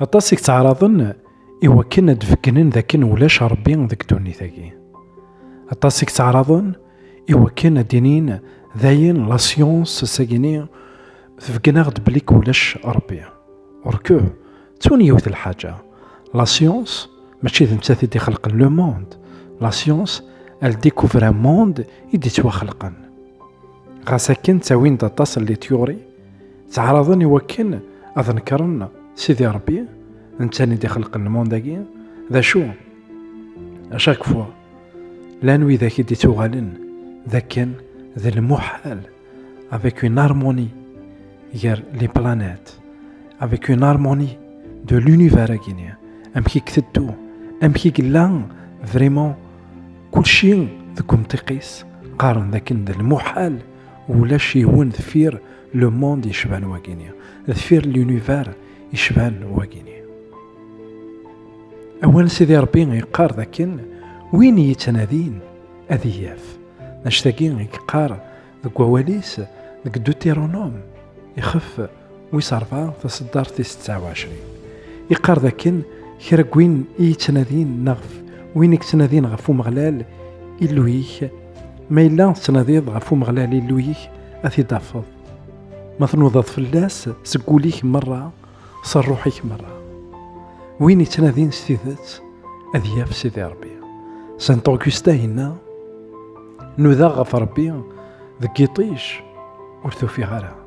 Aṭas i yettɛaraḍen i wakken ad d-beggnen d akken ulac Rebbi deg ddunit-agi. Aṭas i yettɛaraḍen i wakken ad d-inin d ayen la science sagini tbeggen-aɣ-d belli k ulac Rebbi. Or que, ttun yiwet lḥaǧa, la science mačči d nettat i d-ixelqen le monde, la science elle découvre un monde i d-ittwaxelqen. Ɣas akken ttawin-d aṭas n les théories, Ttɛaraḍen i wakken ad nekren Sidi Ṛebbi, netta i d-ixelqen lmund-agi, d acu? A chaque fois, llan widak i d-ittuɣalen d akken d lmuḥal avec une harmonie gar les planètes, avec une harmonie de l'univers-agi-ni, amek i k-teddu, amek i yella vraiment kulci deg umtiq-is, qqaren d akken d lmuḥal ulac yiwen deffir le monde yecban wagini deffir l'univers yecban wagini awal sidi rebbi yeqqar dakken win yettnadin ad iyaf mac tagi yeqqar deg wawalis deg deuteronome ixef wis ṛebɛa taṣeddart tis tesɛa u ɛecrin yeqqar d akken kra n win i yettnadin neɣ win i yettnadin ɣef Umeɣlal Illu-ik ma yella tettnadiḍ ɣef Umeɣlal Illu-ik ad t-id-tafeḍ ma tnudaḍ fell-as seg wul-ik merra s ṛṛuḥ-ik merra win yettnadin s tidet ad yaf Sidi Ṛebbi Saint Augustin yenna nudaɣ ɣef Ṛebbi deg yiṭij ur tufiɣ ara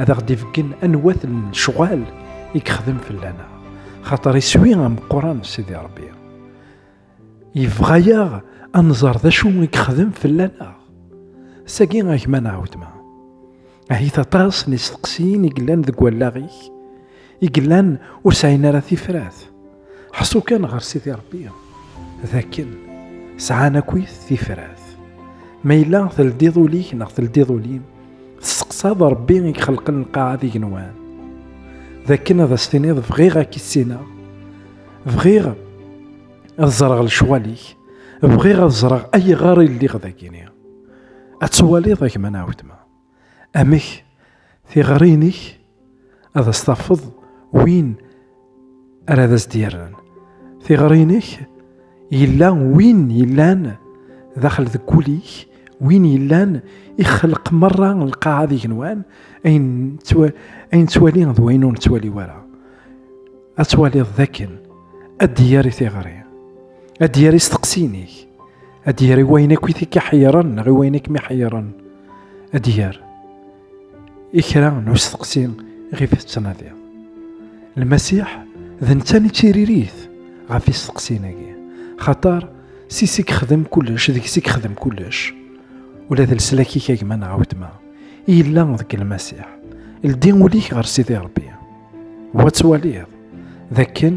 ad aɣ-d-ibeggen anwat n lecɣal i yexdem fell-aneɣ xaṭer iswi ameqqran Sidi Rebbi yebɣa-yaɣ ad nẓer d acu i yexdem fell-aneɣ sagi a gma neɣ wetma ahit aṭas n isteqsiyen i yellan deg wallaɣ-ik i yellan ur sɛin ara tifrat Ḥṣu kan ɣer Sidi Ṛebbi d akken sɛan akkit tifrat. Ma yella teldiḍ ul-ik neɣ teldiḍ ul-im, testeqsaḍ Ṛebbi i ixelqen lqaɛa d igenwan. D akken ad as-tiniḍ bɣiɣ ad k-issineɣ, bɣiɣ ad ẓreɣ lecɣal-ik, bɣiɣ ad ẓreɣ ayɣer i lliɣ dagini. Ad twaliḍ a gma neɣ weltma. Amek tiɣri-inek ad as-tafeḍ win ara ad as-d-yerren? Tiɣri-inek yella win yellan daxel deg wul-ik, win yellan ixelq merra lqaɛa d igenwan, ayen nettwali d wayen ur nettwali ara. Ad twaliḍ d akken ad d-yerr i tiɣri, ad d-yerr isteqsiyen-ik. ad d-yer i wayen akk i t-iḥeyyren neɣ i wayen akk mi ḥeyyren ad d-yer i kra n usteqsi ɣef tettnadiḍ lmasiḥ d netta i ttiririt ɣef isteqsin-agi xaṭer si si yexdem kullec deg si yexdem kullec ula d leslak-ik a gma neɣ a wetma yella deg lmasiḥ ldi ul-ik ɣer sidi rebbi wa ttwaliḍ d akken